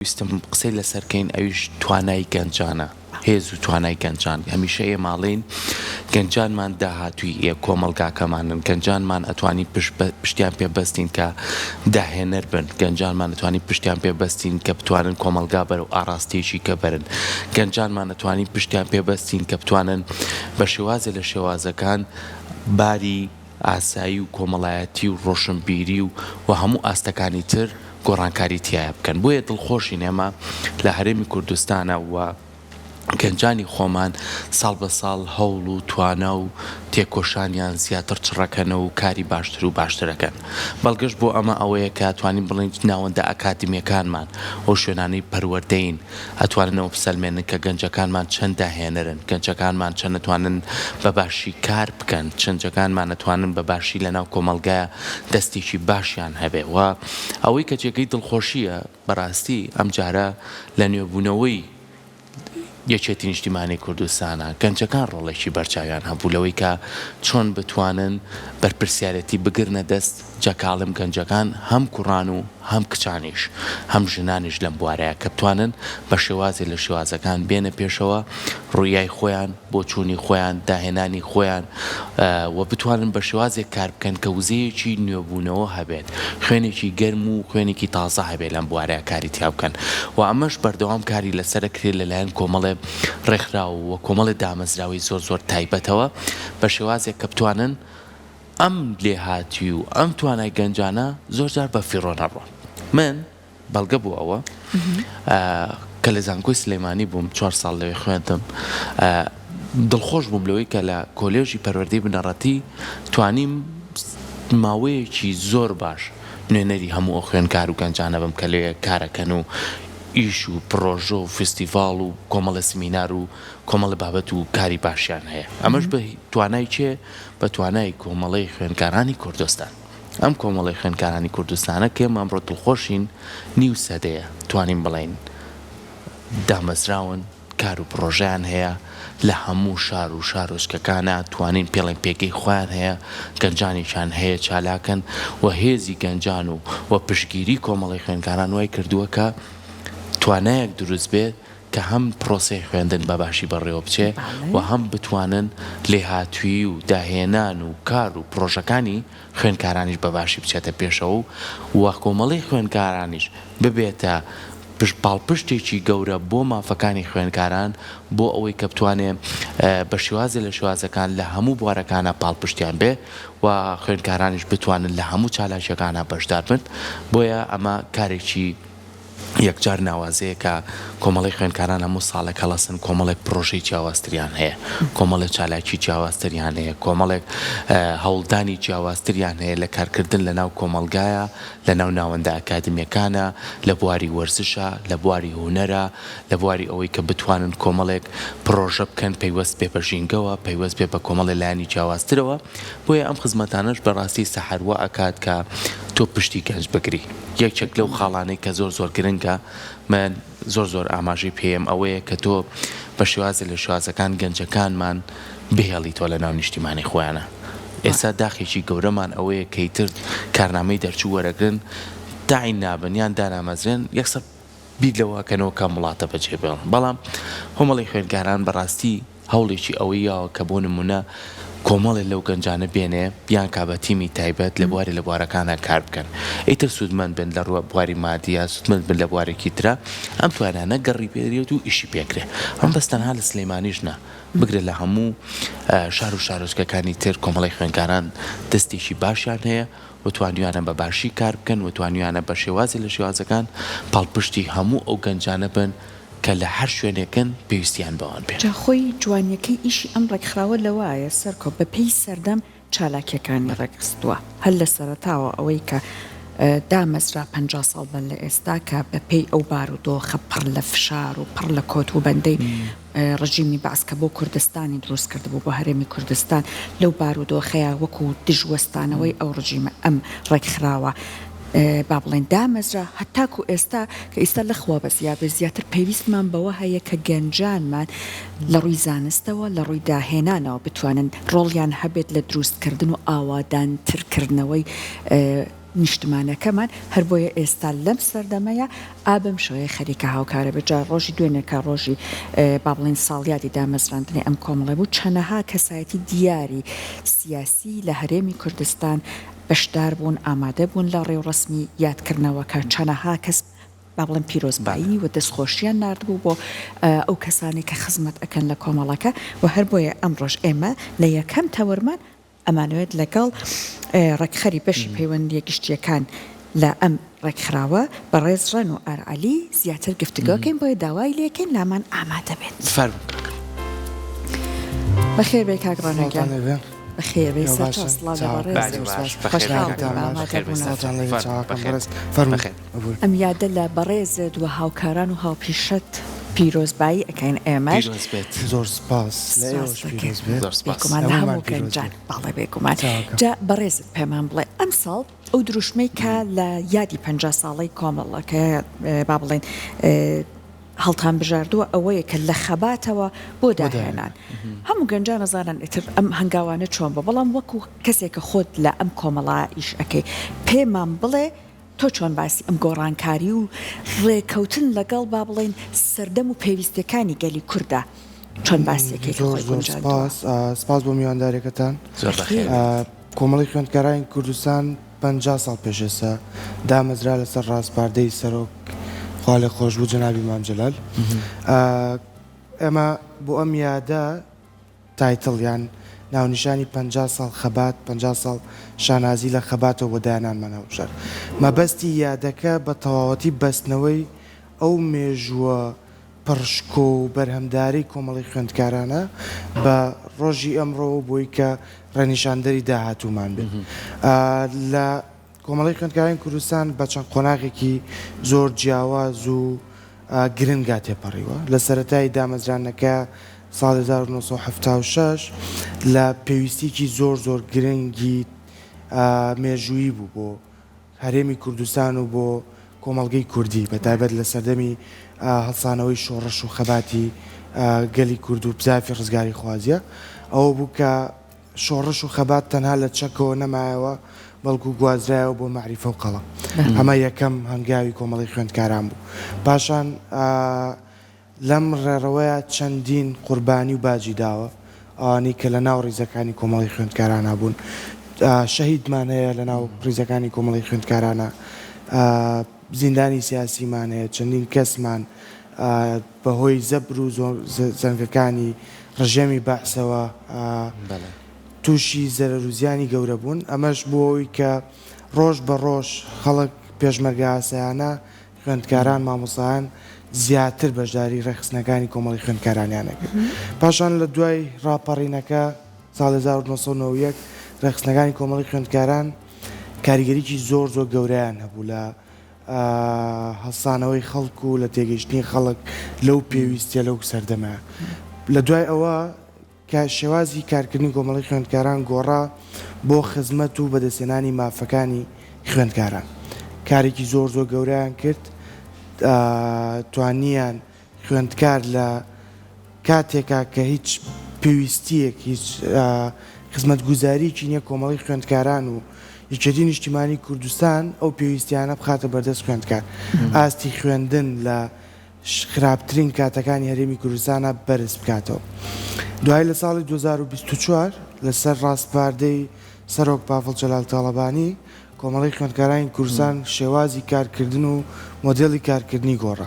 ویستم قسەی لەسەر کەین ئەویش توانای گەنجانە هێز و توانای گەنجان هەمیشە ئێماڵێین گەنجانمان داهاتوی یە کۆمەڵگاکەمانن گەنجانمان ئەتوانی پشتیان پێ بەستین کە داهێنەر بن گەنجانمان ئەتوانی پشتیان پێ بەستین کە بتوانن کۆمەڵگا بەرەو ئاڕاستەیەکی کە بەرن گەنجانمان ئەتوانی پشتیان پێ بەستین کە بتوانن بە شێوازە لە شێوازەکان باری ئاسایی و کۆمەڵایەتی و ڕۆشنبیری و و هەموو ئاستەکانی تر گۆڕانکاری تیایا بکەن بۆیە دڵخۆشین ئێمە لە هەرێمی کوردستانا و گەنجانی خۆمان ساڵ بە ساڵ هەوڵ و توانا و تێکۆشانیان زیاتر چڕەکەنە و کاری باشتر و باشتر ئەکەن بەڵگەش بۆ ئەمە ئەوەیە کە توانین بڵێین ناوەندە ئەکادمیەکانمان و شوێنانەی پەروەردەین ئەتوانن ئەوە بسەلمێنن کە گەنجەکانمان چەند داهێنەرن، گەنجەکانمان چەند ئەتوانن بە باشی کار بکەن، چەنجەکانمان ئەتوانن بە باشی لە ناو کۆمەڵگایا دەستێکی باشیان هەبێ و ئەوەی کە جێگەی دڵخۆشییە بەڕاستی ئەم جارە لە نوێبوونەوەی یەکێتی نیشتیمانی کوردستانە گەنجەکان ڕۆڵێکی بەرچاویان هەبوو لەوەی کە چۆن بتوانن بەرپرسیارێتی بگرنە دەست جا کاڵم گەنجەکان هەم کوڕان و هەم کچانیش هەم ژنانیش لەم بوارەیە کە بتوانن بە شێوازێ لە شێوازەکان بێنە پێشەوە ڕویای خۆیان بۆچوونی خۆیان داهێنانی خۆیان و بتوانن بە شێوازێک کار بکەن کە وزەیەکی نوێبوونەوە هەبێت خوێنێکی گەرم و خوێنێکی تازە هەبێت لەم بوارەیە کاری تیا بکەن و ئەمەش بەردەوام کاری لەسەر ئەکرێت لەلایەن کۆمەڵێ ڕێکخراو و کۆمەڵێ دامەزراوەی زۆر زۆر تایبەتەوە بە شێوازێک کە بتوانن ئەم لێهاتوی و ئەم توانای گەنجانە زۆر جار بە فیڕۆ نەڕۆن. من بەڵگە بۆ ئەوە کە لە زانکۆی سلێمانی بووم چوار ساڵ لەوێ خوێندم دڵخۆش بووم لەوەی کە لە کۆلێژی پەروەردەی بنەڕەتی توانیم ماوەیەکی زۆر باش نوێنەری هەموو ئەو خوێندکار و گەنجانە بم کە لەوێ کارەکەن و ئیش و پڕۆژە و فستیڤاڵ و کۆمەڵە سمینار و کۆمەڵە بابەت و کاری باشیان هەیە ئەمەش بە توانای چێ بە توانای کۆمەڵەی خوێندکارانی کوردستان. ئەم کۆمەڵەی خوێندکارانی کوردستانە کە ئێمە ئەمڕۆ دڵخۆشین نیو سەدەیە توانین بڵێین دامەزراون، کار و پڕۆژەیان هەیە، لە هەموو شار و شارۆچکەکانە توانین پێڵێن پێگەی خۆیان هەیە، گەنجانێکیان هەیە چالاکن و هێزی گەنجان و و پشتگیری کۆمەڵەی خوێندکاران وای کردووە کە توانایەک دروست بێت کە هەم پرۆسەی خوێندن بە باشی بەڕێوە بچێ و هەم بتوانن لێهاتوویی و داهێنان و کار و پرۆژەکانی خوێندکارانیش بە باشی بچێتە پێشەوە و و کۆمەڵەی خوێندکارانیش ببێتە پشت پاڵپشتێکی گەورە بۆ مافەکانی خوێندکاران بۆ ئەوەی کە بتوانێ بە شێوازێ لە شێوازەکان لە هەموو بوارەکانا پاڵپشتیان بێ و خوێندکارانیش بتوانن لە هەموو چالاکییەکانا بەشدار بن بۆیە ئەمە کارێکی یەکجار ناوازەیە کە کۆمەڵەی خوێندکاران هەموو ساڵێک هەڵەسن، کۆمەڵێک پرۆژەی جیاوازتریان هەیە، کۆمەڵێک چالاکی جیاوازتریان هەیە، کۆمەڵێک هەوڵدانی جیاوازتریان هەیە لە کارکردن لە ناو کۆمەڵگایە، لە ناو ناوەندە ئەکادمیەکانە، لە بواری وەرزشە، لە بواری هونەرە، لە بواری ئەوەی کە بتوانن کۆمەڵێک پرۆژە بکەن پەیوەست بێ بە ژینگەوە، پەیوەست بێ بە کۆمەڵێ لایەنی جیاوازترەوە، بۆیە ئەم خزمەتانەش بەڕاستی سەحەر وا ئەکات کە تۆ پشتی گەنج بگری. یەکێک لەو خاڵانەی کە زۆر زۆر گرنگە من زۆر زۆر ئاماژەی پێم ئەوەیە کە تۆ بە شێوازە لە شێوازەکان گەنجەکانمان بهێڵیتەوە لە ناو نیشتیمانی خۆیانە ئێستا داخێکی گەورەمان ئەوەیە کەیتر کارنامەی دەرچوو وەرەگرن تاین نابن یان دانامەزرێن یەکسەر بیر لەوە ئەکەنەوە کام وڵاتە بەجێ بێڵن، بەڵام هۆمەڵی خوێندکاران بەڕاستی هەوڵێکی ئەوەی یاوە کە بۆ نموونە کۆمەڵێ لەو گەنجانە بێنێ بیانکا بە تیمی تایبەت لە بوارێ لە بوارەکانا کار بکەن ئیتر سوودمەند بن لە ڕووە بواری مادی یا سوودمەند بن لە بوارێکی ترا ئەم توانانە گەڕی پێدرێت و ئیشی پێکرێ ئەمە بەس تەنها لە سلێمانیش نا بگرە لە هەموو شار و شارۆچکەکانی تر کۆمەڵی خوێندکاران دەستێکی باشیان هەیە و توانیویانە بە باشی کار بکەن و توانیویانە بە شێوازێ لە شێوازەکان پاڵپشتی هەموو ئەو گەنجانە بن کە لە هەر شوێنێکن پێویستیان بەوان بێ. جا خۆی جوانیەکەی ئیشی ئەم ڕێکخراوە لەوەایە سەرکۆ بە پێی سەردەم چالاکیەکانی ڕێکخستوە هەر لە سەرەتاوە ئەوەی کە دامەزرا پەنجا ساڵ بەر لە ئێستا کە بە پێی ئەو بارودۆخە پڕ لە فشار و پڕ لە کۆت وبەندەی ڕژیمی بەعس کە بۆ کوردستانی دروست کردبوو بۆ هەرێمی کوردستان لەو بارودۆخەیە وەکو دژ وەستانەوەی ئەو ڕژیمە ئەم ڕێکخراوە با بڵێن دامەزرا هەتاکو ئێستا کە ئیستا لەخوا بە زیادە زیاتر پێویستمان بەوە هەیە کە گەنجانمان لە ڕووی زانستەوە لە ڕووی داهێنانەوە بتوانن ڕۆڵیان هەبێت لە دروستکردن و ئاوادانترکردنەوەی نیشتمانەکەمان، هەر بۆیە ئێستا لەم سەردەمەیا ئا بەم شێوەیە خەریکە هاوکارە بێت، جا ڕۆژی دوێنێ کە ڕۆژی با بڵێین ساڵیادی دامەزراندنی ئەم کۆمەڵەی بوو چەنەها کەسایەتی دیاری سیاسی لە هەرێمی کوردستان بەشدار بوون ئامادە بوون لە ڕێوڕەسمی یاد کردنەوەکە چەنەها کەس با بڵێم پیرۆزبایی و دەست خۆشیان نارد بوو بۆ ئەو کەسانەی کە خزمەت ئەکەن لە کۆمەڵەکە و هەر بۆیە ئەمڕۆش ئێمە لە یەکەم تەوەرمان ئەمانەوێت لەگەڵ ڕێکخەری بەشی پەیوەندییە گشتییەکان لە ئەم ڕێکخراوە، بەڕێز ڕێنوئار عەلی زیاتر گفتوگۆ کەین، بۆیە داوای لێکەین لامان ئامادە بێت. بەخێربێی کاک ڕێنۆ گیان. بەخێربێی سەرچاو سڵاو لە بەڕێزت. بەخێربێی. ئەم یادە لە بەڕێزت و هاوکاران و هاوپیشەت پیرۆزبایی ئەکەین ئێمەش. پیرۆز بێت. زۆر سوپاس. لە ئێوەش پیرۆز بێت. زۆر سوپاس. بێگومان لە هەموو گەنجان. بەڵێ بێگومان. چاکە. جا بەڕێزت پێمان بڵێ ئەمساڵ ئەو دروشمەی کە لە یادی پەنجا ساڵەی کۆمەڵەکە با بڵێین هەڵتانبژاردووە ئەوەیە کە لە خەباتەوە بۆ داهێنان. هەموو گەنجان ئەزانن ئیتر ئەم هەنگاوانە چۆن بووە بەڵام وەکوو کەسێک کە خۆت لە ئەم کۆمەڵە ئیش ئەکەی پێمان بڵێ، تۆ چۆن باسی ئەم گۆڕانکاری و ڕێکەوتن لەگەڵ با بڵێین سەردەم و پێویستیەکانی گەلی کوردە چۆن باسی دەکەیت؟ زۆر زۆر سپاس سپاس بۆ میوانداریەکەتان زۆر بەخێربێیت. کۆمەڵی خوێندکارانی کوردستان پەنجا ساڵ پێش ئێستا دامەزرا لەسەر ڕاسپاردەی سەرۆک خوا لێ خۆشبوو جەنابی مام جەلال ئێمە بۆ ئەم یادە تایتڵ یان ناونیشانی پەنجا ساڵ خەبات پەنجا ساڵ شانازی لە خەباتەوە بۆ دایەنانمان هەڵبژارد. مەبەستی یادەکە بە تەواوەتی بەستنەوەی ئەو مێژووە پڕ شکۆ و بەرهەمدارەی کۆمەڵەی خوێندکارانە بە ڕۆژی ئەمڕۆ و بۆی کە ڕێنیشاندەری داهاتوومان بێت لە کۆمەڵەی خوێندکارانی کوردستان بە چەند قۆناغێکی زۆر جیاواز و گرنگا تێپەڕیوە، لە سەرەتای دامەزرانەکە ساڵی هەزار و نۆ سەد و حەفتا و شەش لە پێویستیەکی زۆر زۆر گرنگی مێژوویی بوو بۆ هەرێمی کوردستان و بۆ کۆمەڵگەی کوردی بە تایبەت لە سەردەمی هەڵسانەوەی شۆڕش و خەباتی گەلی کورد و بزافی ڕزگاریخوازیە ئەوە بوو کە شۆڕش و خەبات تەنها لە چەکەوە نەمایەوە، بەڵکو گوازرایەوە بۆ مەعریفە و قەڵەم. ئەمە یەکەم هەنگاوی کۆمەڵەی خوێندکاران بوو. پاشان لەم ڕێڕەوەیە چەندین قوربانی و باجی داوە، ئەوانەی کە لەناو ڕیزەکانی کۆمەڵەی خوێندکارانا بوون. شەهیدمان هەیە لەناو ڕیزەکانی کۆمەڵەی خوێندکارانا. زیندانی سیاسیمان هەیە، چەندین کەسمان بە هۆی زەبر و زەنگەکانی ڕژێمی بەعسەوە تووشی زەرەر و زیانی گەورە بوون، ئەمەش بووە هۆی کە ڕۆژ بە ڕۆژ خەڵک، پێشمەرگە ئاسایانە، خوێندکاران، مامۆستایان زیاتر بەشداری ڕێکخستنەکانی کۆمەڵی خوێندکارانیان ئەکرد. پاشان لە دوای ڕاپەڕینەکە ساڵی هەزار و نۆ سەد و نەوەد و یەک ڕێکخستنەکانی کۆمەڵی خوێندکاران، کاریگەریی زۆر زۆر گەورەیان هەبوو لە هەڵسانەوەی خەڵک و لە تێگەیشتنی خەڵک لەو پێویستیە لەو سەردەمە لە دوای ئەوە کە شێوازی کارکردنی کۆمەڵی خوێندکاران گۆڕا بۆ خزمەت و بەدەستێنانی مافەکانی خوێندکاران کارێکی زۆر زۆر گەوریان کرد توانیان خوێندکار لە کاتێکا کە هیچ پێویستییەک، هیچ خزمەتگوزارییەکی نییە کۆمەڵەی خوێندکاران و یەکێتی نیشتیمانی کوردستان ئەو پێویستیانە بخاتە بەردەست خوێندکار، ئاستی خوێندن لە خراپترین کاتەکانی هەرێمی کوردستانا بەرز بکاتەوە. دوایی لە ساڵی دوو هەزار و بیست و چوار لەسەر ڕاسپاردەی سەرۆک پاڤڵ جەلال تاڵەبانی، کۆمەڵەی خوێندکارانی کوردستان شێوازی کارکردن و مۆدێلی کارکردنی گۆڕا.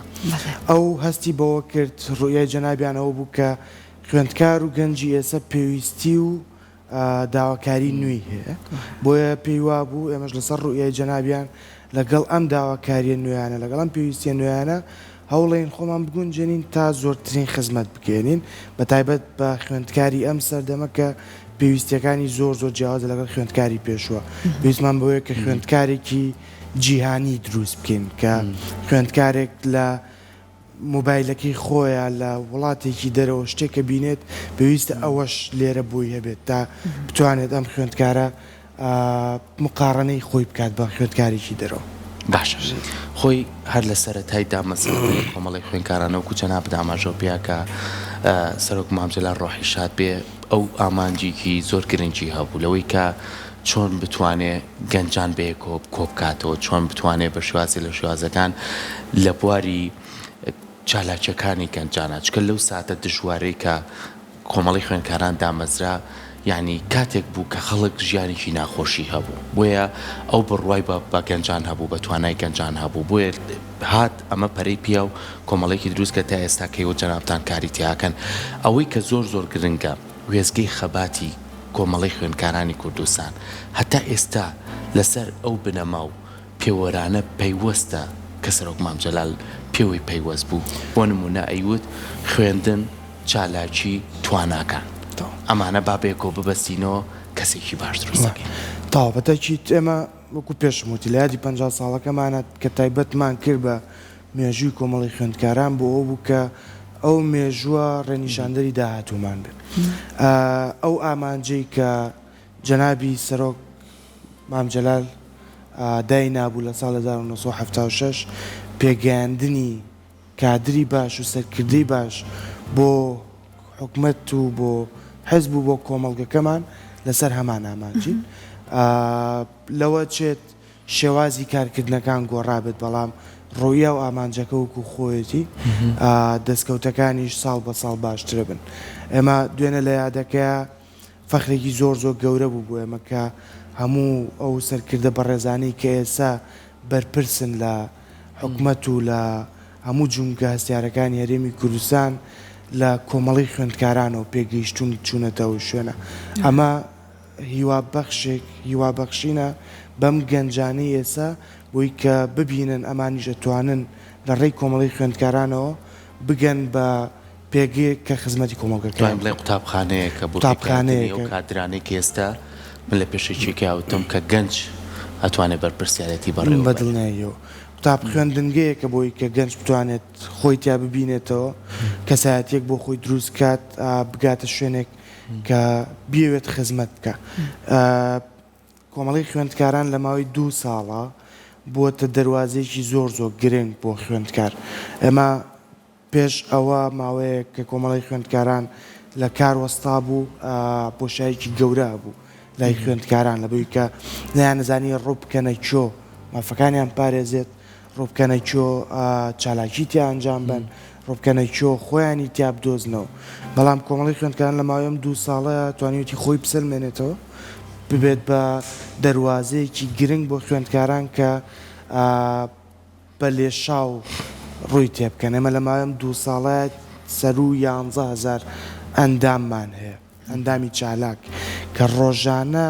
ئەو هەستی بەوە کرد، ڕوئیای جەنابیان ئەوە بوو کە خوێندکار و گەنجی ئێسە پێویستی و داواکاری نوێی هەیە، بۆیە پێی وابوو ئێمەش لەسەر ڕوئیای جەنابیان لەگەڵ ئەم داواکاریە نوێیانە، لەگەڵ ئەم پێویستیە نوێیانە هەوڵێن خۆمان بگونجێنین تا زۆرترین خزمەت بگەیەنین بە تایبەت بە خوێندکاری ئەم سەردەمە کە پێویستیەکانی زۆر زۆر جیاوازە لەگەڵ خوێندکاری پێشوە پێویستمان بۆیە کە خوێندکارێکی جیهانی دروست بکەین کە خوێندکارێک لە موبایلەکەی خۆیە لە وڵاتێکی دەرەوە شتێکە بینێت پێویستە ئەوەش لێرە بۆی هەبێت تا بتوانێت ئەم خوێندکارە مقاڕەنەی خۆی بکات بە خوێندکارێکی دەرەوە. باشە خۆی هەر لە سەرەتای دامەزراندنی کۆمەڵەی خوێندکارانە وەکو جەنابت ئاماژەو پێیا کە سەرۆک مام جەلال ڕۆحی شاد بێ ئەو ئامانجێکی زۆر گرنگی هەبوو لەوەی کە چۆن بتوانێ گەنجان بەیەکەوە کۆبکاتەوە چۆن بتوانێ بە شوازێ لە شوازەکان لە بواری چالاکیەکانی گەنجانە چکە لەو ساتە دژوارەی کە کۆمەڵەی خوێندکاران دامەزرا، یانی کاتێک بوو کە خەڵک ژیانێکی ناخۆشی هەبوو، بۆیە ئەو بڕوای بە بە گەنجان هەبوو، بە توانای گەنجان هەبوو، بۆیە هات ئەمە پەرەی پیا و کۆمەڵەیەکی دروست کرد تا ئێستا کە ئێوە جەنابتان کاری تیاکەن. ئەوەی کە زۆر زۆر گرنگە، وێستگەی خەباتی کۆمەڵەی خوێندکارانی کوردستان هەتا ئێستا لەسەر ئەو بنەما و، پێوەرانە پەیوەستە کە سەرۆک مام جەلال پێوەی پەیوەست بوو، بۆ نموونە ئەیوت خوێندن، چالاکی، تواناکان. ئەمانە با بەیەکەوە ببەستینەوە کەسێکی باش دروست دەکەین. تەواو، بە تەئکید ئێمە وەکوو پێشم وت لە یادی پەنجا ساڵەکەمانە کە تایبەتمان کرد بە مێژووی کۆمەڵەی خوێندکاران بۆ ئەوە بوو کە ئەو مێژووە ڕێنیشاندەری داهاتوومان بێت. ئەو ئامانجەی کە جەنابی سەرۆک مام جەلال دای نابوو لە ساڵ هەزار و نۆ سەد و حەفتا و شەش پێگەیاندنی کادری باش و سەرکردەی باش بۆ حکومەت و بۆ حزب و بۆ کۆمەڵگەکەمان لەسەر هەمان ئامانجین لەوە چێت شێوازی کارکردنەکان گۆڕابێت بەڵام ڕۆیا و ئامانجەکە وەکو خۆیەتی دەستکەوتەکانیش ساڵ بە ساڵ باشترە بن ئێمە دوێنە لە یادەکەیە فەخرێکی زۆر زۆر گەورە بوو بۆ ئێمە کە هەموو ئەو سەرکردە بەڕێزانەی کە ئێستا بەرپرسن لە حکومەت و لە هەموو جومگە هەستیارەکانی هەرێمی کوردستان لە کۆمەڵەی خوێندکارانەوە پێگەیشتوون و چوونەتە ئەو شوێنە. ئەمە هیوا بەخشێک هیوا بەخشینە بەم گەنجانەی ئێستا بۆی کە ببینن ئەمانیش ئەتوانن لە ڕێی کۆمەڵەی خوێندکارانەوە بگەن بە پێگەیەک کە خزمەتی کۆمەڵگەکەیان بکات. دواین بڵێین قوتابخانەیەکە بۆ پێکهاتنی ئەو کادرانەی کە ئێستا من لە پێشەکیەکەی ئاوتم کە گەنج ئەتوانێت بەرپرسیارێتی بەڕێوە بەرێت. بەدڵنیاییەوە قوتاب خوێندنگەیەکە بۆی کە گەنج بتوانێت خۆی تیا ببینێتەوە، کەسایەتیەک بۆ خۆی دروست بکات، بگاتە شوێنێک کە بیەوێت خزمەت بکا. کۆمەڵەی خوێندکاران لە ماوەی دوو ساڵە بووەتە دەروازەیەکی زۆر زۆر گرنگ بۆ خوێندکار. ئێمە. پێش ئەوە ماوەیەک کە کۆمەڵەی خوێندکاران لە کار وەستابوو، بۆشایەکی گەورە هەبوو لای خوێندکاران لەبەوەی کە نەیانەزانی ڕووبکەنە کۆ مافەکانیان پارێزێت، ڕووبکەنە کۆ چالاکی تیا ئەنجام بەن، ڕووبکەنە کۆ خۆیانی تیا بدۆزنەوە. بەڵام کۆمەڵی خوێندکاران لە ماوەی ئەم دوو ساڵەیە توانیویەتی خۆی بسەلمێنێتەوە، ببێت بە دەروازەیەکی گرنگ بۆ خوێندکاران کە، بە لێشاو ڕووی تێبکەن، ئێمە لە ماوەی ئەم دوو ساڵە سەروو یانزە هەزار ئەنداممان هەیە، ئەندامی چالاک، کە ڕۆژانە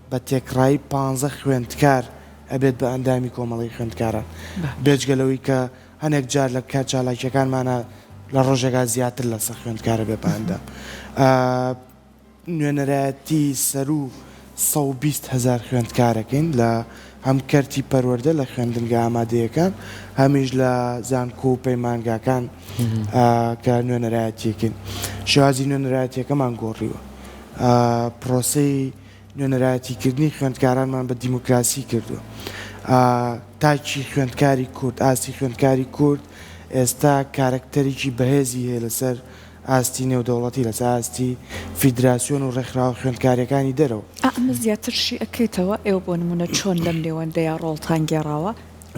بە تێکڕایی پانزە خوێندکار ئەبێت بە ئەندامی کۆمەڵەی خوێندکاران، بێجگە لەوەی کە هەنێک جار لە کات چالاکییەکانمانا لە ڕۆژێکا زیاتر لە سەد خوێندکار ئەبێت بە ئەندام. نوێنەرایەتی سەروو سەد و بیست هەزار خوێندکارەکەین لە هەم کەرتی پەروەردە لە خوێندنگە ئامادەیەکان هەمیش لە زانکۆ و پەیمانگاکان کە نوێنەرایەتیەکەین شێوازی نوێنەرایەتیەکەمان گۆڕیوە پرۆسەی نوێنەرایەتیکردنی خوێندکارانمان بە دیموکراسی کردووە تاکی خوێندکاری کورد ئاستی خوێندکاری کورد ئێستا کارەکتەرێکی بەهێزی هەیە لەسەر ئاستی نێودەوڵەتی لەسەر ئاستی فیدراسیۆن و ڕێکخراوە خوێندکارەکانی دەرەوە. ئەمە زیاتر شی ئەکرێتەوە، ئێوە بۆ نموونە چۆن لەم نێوەندەیا ڕۆڵتان گێڕاوە؟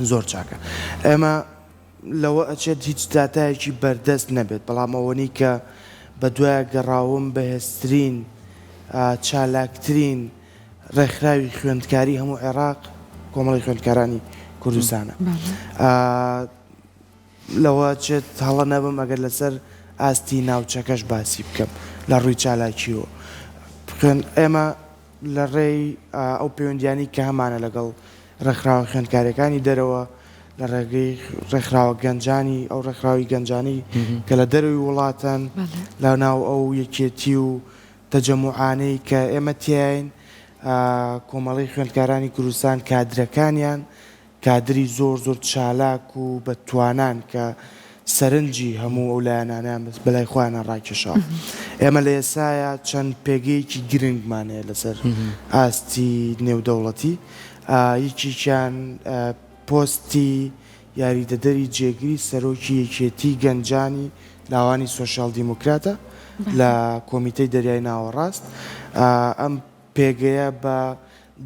زۆر چاکە، ئێمە لەوە ئەچێت هیچ داتایەکی بەردەست نەبێت، بەڵام ئەوەنەی کە بە دوایە گەڕاوم بەهێزترین چالاکترین ڕێکخراوی خوێندکاری هەموو عێراق کۆمەڵەی خوێندکارانی کوردستانە. لەوە چێت هەڵە نەبم ئەگەر لەسەر ئاستی ناوچەکەش باسی بکەم لە ڕووی چالاکییەوە بخوێن ئێمە لە ڕێی ئەو پەیوەندیانەی کە هەمانە لەگەڵ ڕێکخراوە خوێندکارەکانی دەرەوە لە ڕێگەی ڕێکخراوە گەنجانی ئەو ڕێکخراوی گەنجانی کە لە دەروی وڵاتەن لە ناو ئەو یەکێتی و تەجەموعانەی کە ئێمە تیاین کۆمەڵی خوێندکارانی کوردستان کادرەکانیان کادری زۆر زۆر چالاک و بە توانان کە سەرنجی هەموو ئەو لایەنانەیان بەلای خۆیانا ڕاکێشاوە. ئێمە لە ئێستایا چەند پێگەیەکی گرنگمان هەیە لەسەر ئاستی نێودەوڵەتی، یەکێکیان پۆستی یاریدەدەری جێگری سەرۆکی یەکێتیی گەنجانی لاوانی سۆسیال دیموکراتە لە کۆمیتەی دەریای ناوەڕاست. ئەم پێگەیە بە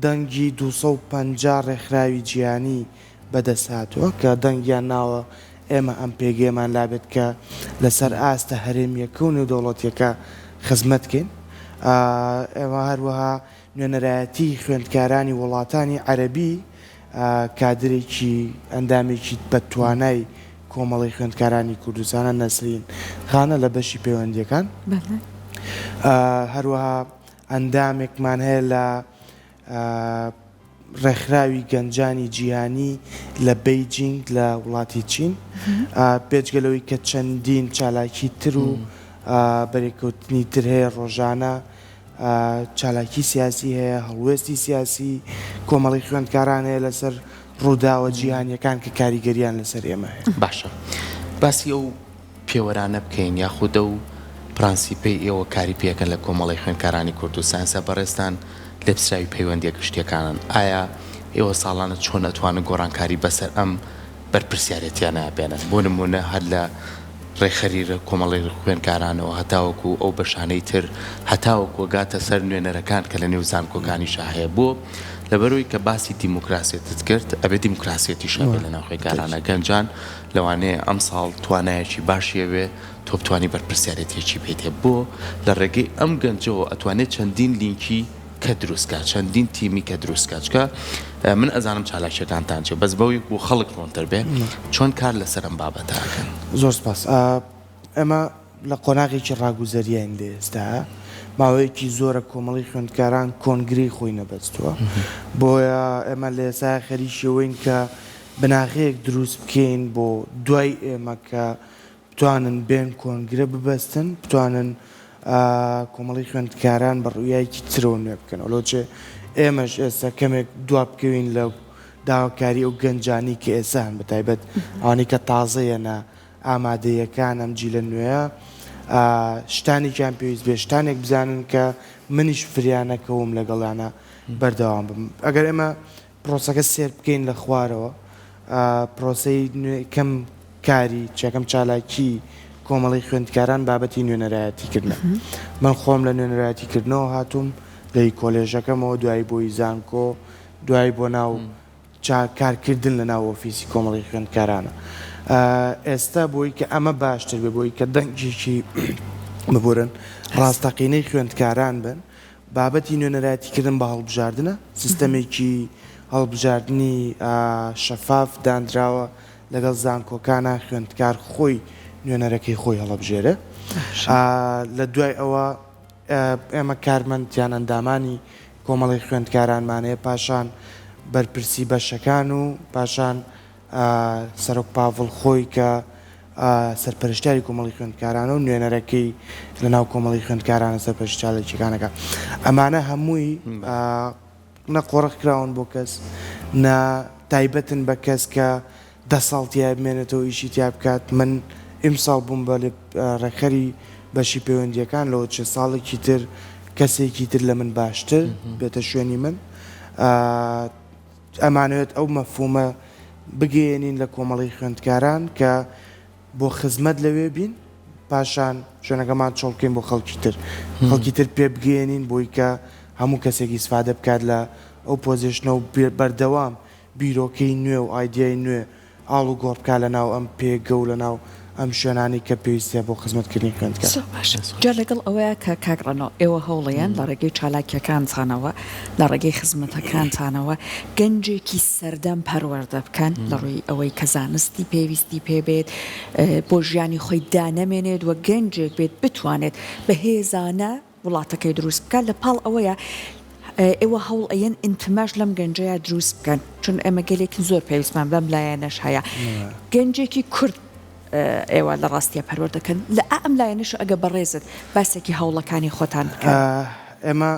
دەنگی دوو سەد و پەنجا ڕێکخراوی جیهانی بەدەستهاتووە کە دەنگیان ناوە، ئێمە ئەم پێگەیەمان لابێت کە لەسەر ئاستە هەرێمییەکە و نێودەوڵەتییەکە خزمەت کەین. ئێمە هەروەها نوێنەرایەتیی خوێندکارانی وڵاتانی عەرەبی کادرێکی ئەندامێکی بەتوانای کۆمەڵەی خوێندکارانی کوردستانە نەسرین خانە لە بەشی پەیوەندییەکان. هەروەها ئەندامێکمان هەیە لە ڕێکخراوی گەنجانی جیهانی لە بەیجینگ لە وڵاتی چین بێجگە لەوەی کە چەندین چالاکی تر و بەرێکەوتنی تر هەیە ڕۆژانە چالاکی سیاسی هەیە هەڵوێستی سیاسی کۆمەڵی خوێندکاران هەیە لەسەر ڕووداوە جیهانیەکان کە کاریگەریان لەسەر ئێمە باشە باسی ئەو پێوەرانە بکەین یاخود ئەو پرانسیپەی ئێوە کاری پێکەن لە کۆمەڵەی خوێندکارانی کورد و ساینسە بەڕێزتان لێپسراوی پەیوەندیە گشتیەکانن ئایا ئێوە ساڵانە چۆن ئەتوانن گۆڕانکاری بەسەر ئەم بەرپرسیارێتیانە بێنن بۆ نمونە هەر لە ڕێکخەری کۆمەڵەی خوێندکارانەوە هەتاوەکو ئەو بەشانەی تر هەتاوەکو ئەگاتە سەر نوێنەرەکان کە لە نێو زانکۆکانیشا هەیە بۆ لەبەرئەوەی کە باسی دیموکراسێتت کرد ئەبێ دیموکراسێتیش هەبێت لە ناو خوێندکارانە گەنجان لەوانەیە ئەمساڵ توانایەکی باشی هەبێ تۆ بتوانی بەرپرسیارێتیەکی بێتێ بۆ لە ڕێگەی ئەم گەنجەوە ئەتوانێ چەندین لینکی کە دروست کا چەندین تیمی کە دروست کا چکە من ئەزانم چالاکیەکانتان چێ بەس بەوی بۆ خەڵک ڕۆنتر بێ چۆن کار لەسەر ئەم بابەتە ئەکەن زۆر سپاس ئێمە لە قۆناغێکی ڕاگوزەریین لە ئێستا، ماوەیەکی زۆرە کۆمەڵەی خوێندکاران کۆنگرەی خۆی نەبەستووە، بۆیە ئێمە لە ئێستا خەریکی ئەوەین کە بناغەیەک دروست بکەین بۆ دوای ئێمە کە بتوانن بێن کۆنگرە ببەستن، بتوانن کۆمەڵەی خوێندکاران بە ڕویایەکی ترەوە نوێ بکەنەوە، لۆچێ ئێمەش ئێستا کەمێک دوا بکەوین لە داواکاری ئەو گەنجانەی کە ئێستا هەن بە تایبەت ئەوانەی کە تازە یەنە. ئامادەییەکان ئەم جیلە نوێیە ئا شتانێکیان پێویست بێ شتانێک بزانن کە منیش فریا نەکەوم لەگەڵیانە بەردەوام بم ئەگەر ئێمە پرۆسەکە سێر بکەین لە خوارەوە ئا پرۆسەی نوێ کەم کاری چەکەم چالاکی کۆمەڵی خوێندکاران بابەتی نوێنەرایەتی کردنە من خۆم لە نوێنەرایەتی کردنەوە هاتووم لەی کۆلێژەکەمەوە دوایی بۆی زانکۆ دوایی بۆ ناو چ کارکردن لە ناو ئۆفیسی کۆمەڵی خوێندکارانە ئێستا بۆی کە ئەمە باشتر بێ بۆی کە دەنگێکی ببورن ڕاستەقینەی خوێندکاران بن بابەتی نوێنەرایەتیکردن بە هەڵبژاردنە سیستەمێکی هەڵبژاردنی شەفاف دانراوە لەگەڵ زانکۆکانە خوێندکار خۆی نوێنەرەکەی خۆی هەڵەبژێرە لە دوای ئەوە ئێمە کارمەندیان ئەندامانی کۆمەڵەی خوێندکارانمانەیە پاشان بەرپرسی بەشەکان و پاشان سەرۆک پاڤڵ خۆی کە سەرپەرشتاری کۆمەڵی خوێندکارانە و نوێنەرەکەی لە ناو کۆمەڵی خوێندکارانە سەرپەرشتالێکیەکانەکە ئەمانە هەمووی نە قۆڕخکراون بۆ کەس نە تایبەتن بە کەس کە دە ساڵ تیای بمێنێتەوە ئیشی تیا بکات من ئیمساڵ بووم بە ڕێکخەری بەشی پەیوەندیەکان لەوە چە ساڵێکی تر کەسێکی تر لە من باشتر بێتە شوێنی من ئەمانوێت ئەو مەفومە بگەێنین لە کۆمەڵی خوێندکاران کە بۆ خزمەت لەوێ بین پاشان شوێنەکەمان چۆڵکەین بۆ خەڵکی تر خەڵکی تر پێ بگەێنین بۆی کە هەموو کەسێکی سفادە بکات لە ئەو پۆزیشنە و بەردەوام بیرۆکەی نوێ و ئایدیای نوێ ئاڵوگۆڕ بکات لە ناو ئەم پێگە و لە ناو ئەم شوێنانەی کە پێویستە بۆ خزمەتکردنی خوێندکار. زۆر باش. جا لەگەڵ ئەوەیا کە کاک ڕەنۆ، ئێوە هەوڵیان لە ڕێگەی چالاکییەکانتانەوە، لە ڕێگەی خزمەتەکانتانەوە گەنجێکی سەردەم پەروەردە بکەن لە ڕووی ئەوەی کە زانستی پێویستی پێ بێت، بۆ ژیانی خۆی دانەمێنێت و گەنجێک بێت بتوانێت بەهێزانە، وڵاتەکەی دروست بکات لە پاڵ ئەوەیە ئێوە هەوڵ ئەیەن ئینتماش لەم گەنجەیە دروست بکەن چون ئێمە گەلێکن زۆر پێویستمان بەم لایەنەش هەیە گەنجێکی کورد ئێوە لە ڕاستیە پەروەەر دەکەن لە ئەم لایەنش ئەگە بەڕێزت باسێکی هەوڵەکانی خۆتان بکە ئێمە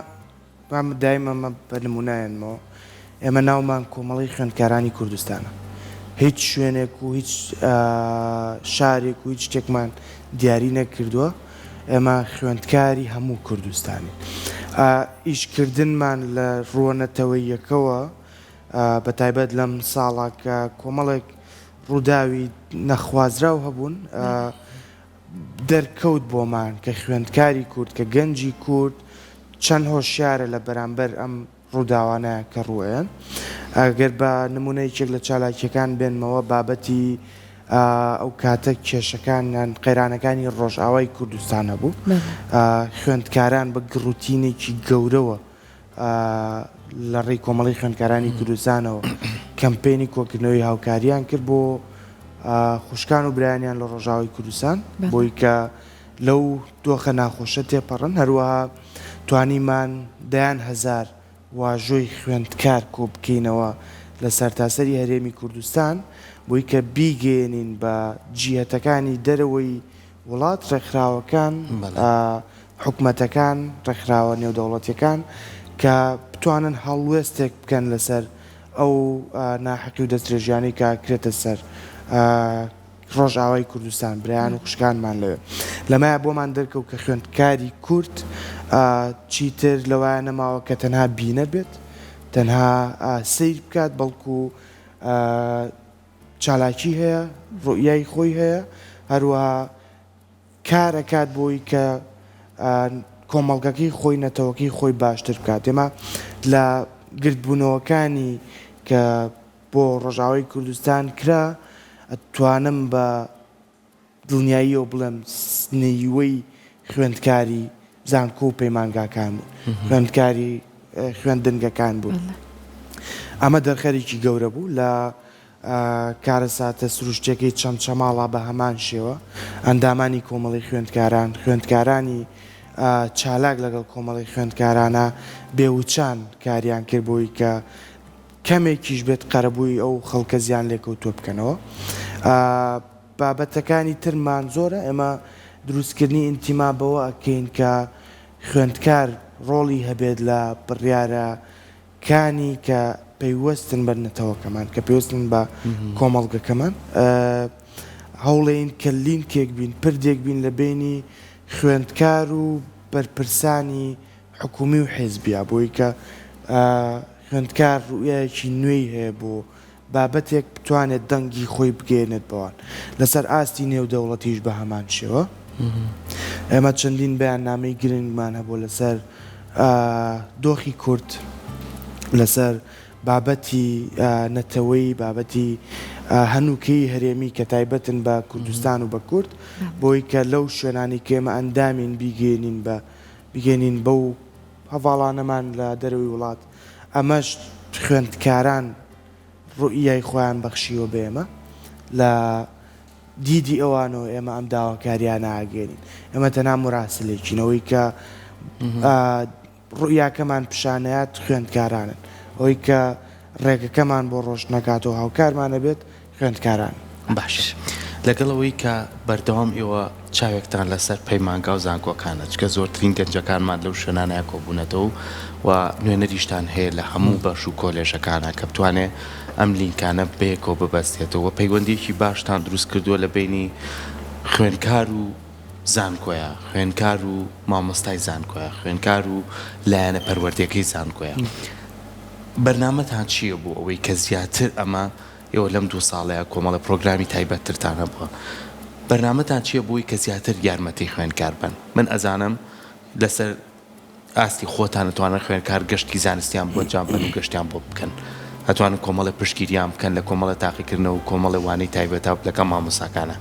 مام دایمەمە بە نمونایەنمەوە ئێمە ناومان کۆمەڵەی خوێندکارانی کوردستانە هیچ شوێنێک و هیچ شارێک و هیچ شتێکمان دیاری نەکردووە ئێمە خوێندکاری هەموو کوردستانین ئیشکردنمان لە ڕووە نەتەوەیەکەوە بە تایبەت لەم ساڵا کە کۆمەڵێک ڕووداوی نەخوازراو هەبوون دەرکەوت بۆمان کە خوێندکاری کورد کە گەنجی کورد چەند هۆشیارە لە بەرامبەر ئەم ڕووداوانە کە ڕووئەیەن. ئەگەر بە نموونە یەکێک لە چالاکییەکان بێنمەوە بابەتی ئەو کاتە کێشەکان یان قەیرانەکانی ڕۆژئاوای کوردستانە بوو. خوێندکاران بە گڕوتینێکی گەورەوە لە ڕێی کۆمەڵەی خوێندکارانی کوردستانەوە کەمپەینی کۆکردنەوەی هاوکارییان کرد بۆ خوشکان و برایانیان لە ڕۆژاوای کوردستان بۆی کە لەو دۆخە ناخۆشە تێپەڕن، هەروەها توانیمان دەیان هەزار واژۆی خوێندکار کۆبکەینەوە لە سەرتاسەری هەرێمی کوردستان بۆی کە بیگەیەنین بە جیهەتەکانی دەرەوەی وڵات، ڕێکخراوەکان، حکومەتەکان، ڕێکخراوە نێودەوڵەتیەکان کە بتوانن هەڵوێستێک بکەن لەسەر ئەو ناحەقی و دەستدرێژیانەی کە ئەکرێتە سەر ڕۆژئاوای کوردستان برایان و خوشکانمان لەوێ لەمایە بۆمان دەرکەوت کە خوێندکاری کورد چیتر لەوایە نەماوە کە تەنها بینەر بێت تەنها سیر بکات بەڵکو چالاکی هەیە ڕوئای خۆی هەیە هەروەها کارەکات بۆی کە کۆمەڵگەکەی خۆی نەتەوەکەی خۆی باشتر بکات ئێمە لە گردبوونەوەکانی کە بۆ ڕۆژئاوای کوردستان کرا، ئەتوانم بە دڵنیاییەوە بڵێم نیوەی خوێندکاری زانکۆ و پەیمانگاکان بوون، خوێندکاری خوێندنگەکان بوون، ئەمە دەرخەرێکی گەورە بوو لە کارەساتە سروشتیەکەی چەمچەماڵا بە هەمان شێوە ئەندامانی کۆمەڵی خوێندکاران خوێندکارانی چالاک لەگەڵ کۆمەڵی خوێندکارانە بێوچان کاریان کرد بۆی کە کەمێکیش بێت قەرەبووی ئەو خەڵکە زیان لێکەوتووە بکەنەوە بابەتەکانی ترمان زۆرە ئێمە دروستکردنی ئینتیما بەوە ئەکەین کە خوێندکار ڕۆڵی هەبێت لە بڕیارە کانی کە پەیوەستن بە نەتەوەکەمان کە پێوستن بە کۆمەڵگەکەمان هەوڵێن کە لینکێک بین پردێک بین لە بینی خوێندکار و بەرپرسانی حکومی و حیزبیە بۆی کە خوێندکار روئیایەکی نوێی هەیە بۆ بابەتێک بتوانێت دەنگی خۆی بگەیەنێت بەوان لەسەر ئاستی نێو دەوڵەتیش بەهەمان شێوە ئێمە چەندین بەیاننامەی گرنگمان هەبوە لەسەر دۆخی کورد لەسەر بابەتی نەتەوەی بابەتی هەنوکەی هەرێمی کە تایبەتن بە کوردستان و بە کورد بۆی کە لەو شوێنانی کێمە ئەندامین بیگەێنین بە بگەینین بەو هەڤاڵانەمان لە دەرەوەی وڵات، ئەمەش خوێندکاران روئیای خۆیان بەخشیوە بە ئێمە، لە دیدی ئەوانەوە ئێمە ئەم داواکاریانە ئاگرین، ئێمە تەنها موراسلێکین، ئەوەی کە روئیاکەمان پیشانئەیات خوێندکارانن، ئەوەی کە رێگەکەمان بۆ رۆشنئەکاتەوە هاوکارمان ئەبێت، خوێندکاران باشە لەگەڵ ئەوەی کە بەردەوام ئێوە چاوێکتان لەسەر پەیمانگا و زانکۆکانە چکە زۆرترین گەنجەکانمان لەو شوێنانەیە کۆبوونەتەوە و نوێنەریشتان هەیە لە هەموو بەش و کۆلێژەکانە کە بتوانێ ئەم لینکانە بەیەکەوە ببەستێتەوە و پەیوەندیەکی باشتان دروست کردووە لە بەینی خوێندکار و زانکۆیە خوێندکار و مامۆستای زانکۆیە خوێندکار و لایەنە پەروەردەکەی زانکۆیە بەرنامەتان چیە بۆ ئەوەی کە زیاتر ئەمە ئێوە لەم دوو ساڵەیا کۆمەڵێ پڕۆگرامی تایبەتترتان هەبووە، بەرنامەتان چییە بۆی کە زیاتر یارمەتی خوێندکار بن؟ من ئەزانم لەسەر ئاستی خۆتان ئەتوانن خوێندکار گەشتکی زانستیان بۆ ئەنجام بەن و گەشتیان بۆ بکەن، ئەتوانن کۆمەڵێ پشتگیریان بکەن لە کۆمەڵێ تاقیکردنەوە و کۆمەڵێ وانەی تایبەتا و لەگەڵ مامۆستاکانا.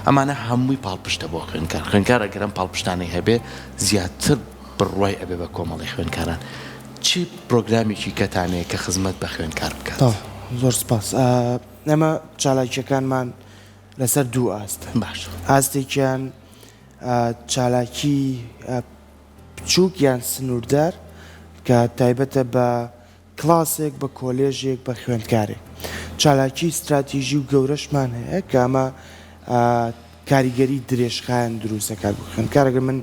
ئەمانە هەمووی پاڵپشتە بۆ خوێندکار، خوێندکار ئەگەر ئەم پاڵپشتانەی هەبێ زیاتر. بڕوای ئەبێ بە کۆمەڵی خوێنکاران. چ پرۆگرامێکی کەتان هەیە کە خزمەت بە خوێنکار بکات؟ زۆر سپاس. ئێمە چالاکییەکانمان لەسەر دوو ئاستن. باشە. ئاستێکیان چالاکی بچووک یان سنووردار کە تایبەتە بە کڵاسێک بە کۆلێژێک بە خوێندکارێک چالاکیی ستراتیژی و گەورەشمان هەیە کە ئەمە کاریگەری درێژخایەن دروست دەکات بۆ خوێندکار ئەگەر من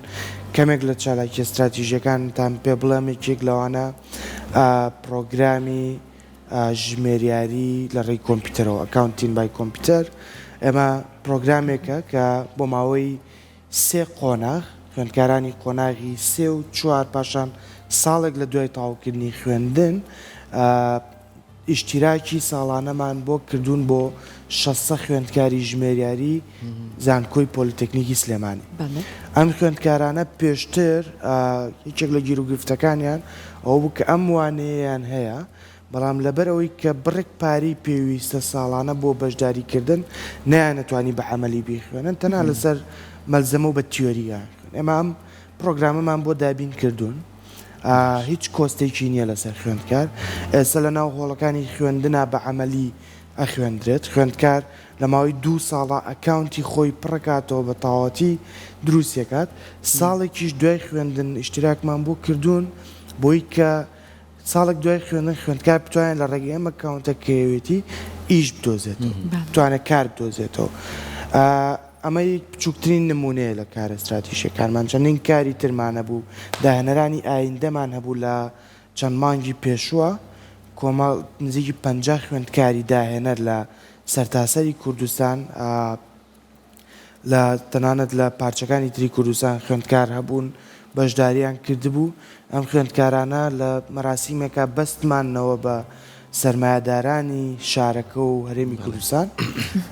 کەمێک لە چالاکییە ستراتیژیەکانتان پێ بڵێم یەکێک لەوانە پرۆگرامی ژمێریاری لە ڕێی کۆمپیوتەرەوە ئەکاونتین بای کۆمپیوتەر ئێمە پرۆگرامێکە کە بۆ ماوەی سێ قۆناغ، خوێندکارانی قۆناغی سێ و چوار پاشان ساڵێک لە دوای تەواوکردنی خوێندن ئیشتیراکی ساڵانەمان بۆ کردوون بۆ شەست سەد خوێندکاری ژمێریاری زانکۆی پۆلیتەکنیکی سلێمانی. ئەم خوێندکارانە پێشتر یەکێک لە گیروگرفتەکانیان ئەوە بوو کە ئەم وانەیەیان هەیە، بەڵام لەبەرئەوەی کە بڕێک پارەی پێویستە ساڵانە بۆ بەشداریکردن نەیانتوانی بە عەمەلی بیخوێنن تەنها لەسەر مەلزەمە و بە تیۆرییە ئێمە ئەم پرۆگرامەمان بۆ دابین کردوون هیچ کۆستێکی نییە لەسەر خوێندکار ئێستا لە ناو هۆڵەکانی خوێندنا بە عەمەلی ئەخوێندرێت خوێندکار لە ماوەی دوو ساڵە ئەکاونتی خۆی پڕکاتەوە بە تاواتی دروستەکات ساڵێکیش دوای خوێندن ئشتراکمان بۆ کردوون بۆی کە ساڵێک دوای خوێندن خوێندکار بتوانێت لە ڕێگەی ئەم ئەکاونتە کرێوێتی ئیش بدۆزێتەوە بتوانێت کار بدۆزێتەوە ئەمە یک بچووکترین نمونەیە لە کارە استراتیژەکانمان چەندین کاری ترمانە بوو داهێنەرانی ئایندەمان هەبوو لە چەند مانگی پێشووە کۆمەڵ نزیکی پ خوێندکاری داهێنەر لە سەرتاسەری کوردستان لە تەنانەت لە پارچەکانی تری کوردستان خوێندکار هەبوون بەشداریان کردبوو ئەم خوێندکارانە لە مەراسیمێکا بەستمانەوە بە سەرمایەدارانی شارەکە و هەرێمی کوردستان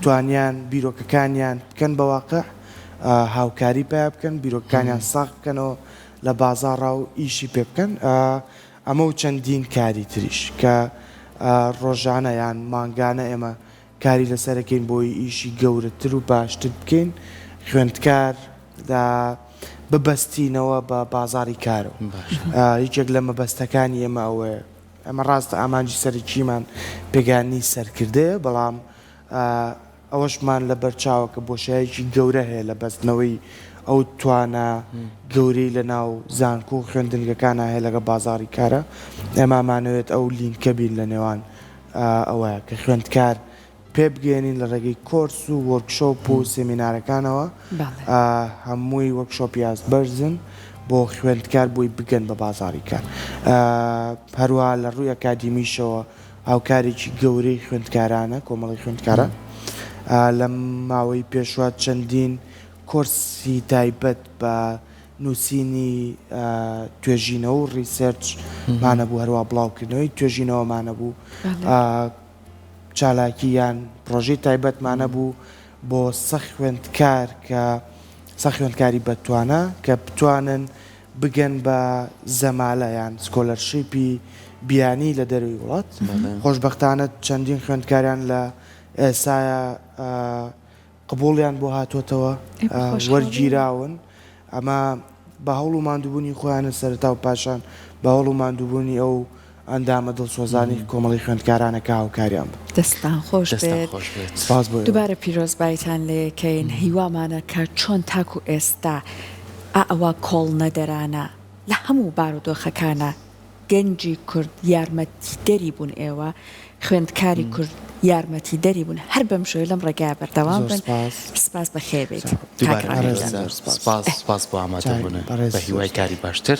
توانیان بیرۆکەکانیان بکەن بە واقع هاوکاری پیا بکەن بیرۆکانیان ساق بکەنەوە لە بازاڕا و ئیشی پێ بکەن ئەمە و چەندین کاری تریش کە ڕۆژانە یان مانگانە ئێمە کاری لەسەر ئەکەین بۆی ئیشی گەورەتر و باشتر بکەین خوێندکار دا ببەستینەوە بە بازاری کارەوە یەکێک لە مەبەستەکانی ئێمە ئەوەیە ئەمە ڕاستە ئامانجی سەرکیمان پێگانی سەرکردەیە بەڵام ئەوەشمان لە بەرچاوە کە بۆشایەکی گەورە هەیە لە بەستنەوەی ئەو توانە گەورەی لە ناو زانکۆ و خوێندنگەکانە هەیە لەگە بازاری کارە ئەمامانەوێت ئەو لینکە بین لە نێوان ئەوەیە کە خوێندکار پێبگەیەنین لە ڕێگەی کۆرس و وۆرکشۆپ و سێمینارەکانەوە هەمووی وەک شۆپی ئاست بەرزن بۆ خوێندکار بۆی بگەن بە بازاری کار هەروە لە ڕووی ئەکادیمیشەوە هاوکارێکی گەورەی خوێندکارانە کۆمەڵی خوێندکاران لەم ماوەی پێشوە چەندین کۆرسی تایبەت بە نووسینی توێژینەوە و ڕیسێرچ مانەبوو، هەروا بڵاوکردنەوەی توێژینەوە مانەبوو، چالاکی یان پرۆژەی تایبەت مانەبوو بۆ سە خوێندکار کە سە خوێندکاری بەتوانە کە بتوانن بگەن بە زەمالە یان سکۆلەرشیپی بیانی لە دەروی وڵات، خۆشبەختانە چەندین خوێندکاریان لە ئێسایا قبوڵیان بۆ هاتۆتەوە وەرگیراون ئەمە بە هەوڵ و ماندووبوونی خۆیانە سەرەتا و پاشان بە هەوڵ و ماندووبوونی ئەو ئەندامە دڵسۆزانی کۆمەڵی خوێندکارانە کە هاوکاریان بوو دەستان خۆش دوبارە پیرۆزبایتان لەکەین هیوامانە کە چۆن تاکو ئێستا ئەوە کۆڵنەدەرانە لە هەموو بارودۆخەکانە گەنجی کورد یارمەتیدەری بوون ئێوە خوێندکاری کورد یارمەتی دەری بوون هەر بەم شێوەیە لەم ڕێگایە بەردەوام بن سپاس بەخێربێیت کاک ڕەحیم جان. سپاس بۆ ئامادەبوونت بە هیوای کاری باشتر.